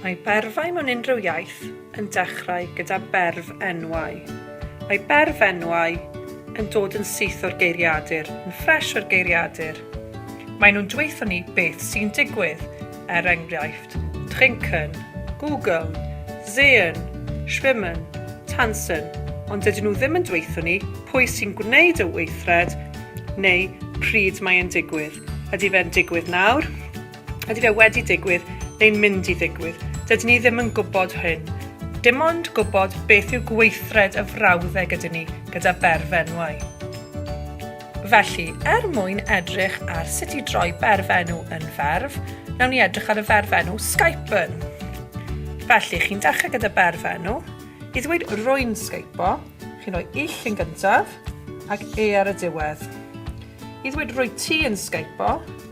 Mae berfau mewn unrhyw iaith yn dechrau gyda berf enwau. Mae berf enwau yn dod yn syth o'r geiriadur, yn ffresh o'r geiriadur. Maen nhw'n dweutho ni beth sy'n digwydd, er enghraifft, trinken, googeln, sehen, schwimmen, tanzen, ond dydyn nhw ddim yn dweutho ni pwy sy'n gwneud y weithred neu pryd mae e'n digwydd. Ydy fe'n digwydd nawr? Ydy fe wedi digwydd neu'n mynd i ddigwydd? Dydyn ni ddim yn gwybod hyn. Dim ond gwybod beth yw gweithred y frawddeg ydyn ni gyda berfenwau. Felly, er mwyn edrych ar sut i droi berfenw yn ferf, nawn ni edrych ar y ferfenw skypen. Felly, chi'n dechrau gyda berfenw. I ddweud rwy'n skypo, chi'n rhoi ill yn gyntaf ac e ar y diwedd. I ddweud rwy ti yn skypo,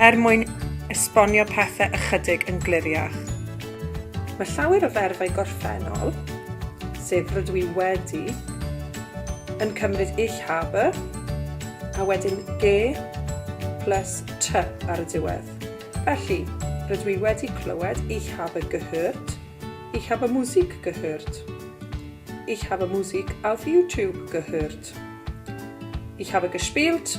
Er mwyn esbonio pethau ychydig yn gliriach. Mae llawer o ferfau gorffennol, sef rydw i wedi, yn cymryd ich habe, a wedyn ge plus ty ar y diwedd. Felly, rydw i wedi clywed ich habe gehört, ich habe Musik gehört, ich habe Musik auf YouTube gehört, ich habe gespielt,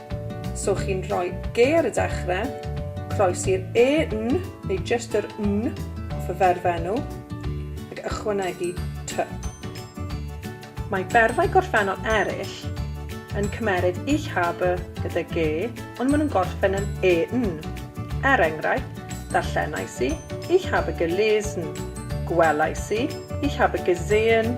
So chi'n rhoi ge ar y dechrau, croes i'r e, n, neu jyst yr n off y ferfenw, ac ychwanegu ty. Mae berfau gorffennol eraill yn cymeryd ich habe gyda ge, ond maen nhw'n gorffen yn e, n. Er enghraifft, darllenais i, ich habe gelesen, gwelais i, ich habe gesehen,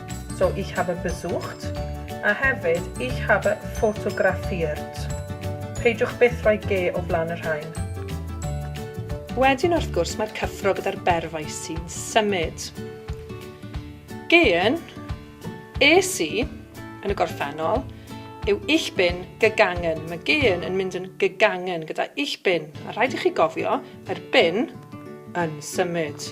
So ich habe besucht, a hefyd ich habe fotografiert. Peidiwch byth rhoi ge o flaen y rhain. Wedyn wrth gwrs mae'r cyffro gyda'r berfau sy'n symud. Gehen, es i, yn y gorffennol, yw ich bin gegangen. Mae gehen yn mynd yn gegangen gyda ich bin, a rhaid i chi gofio, mae'r bin yn symud.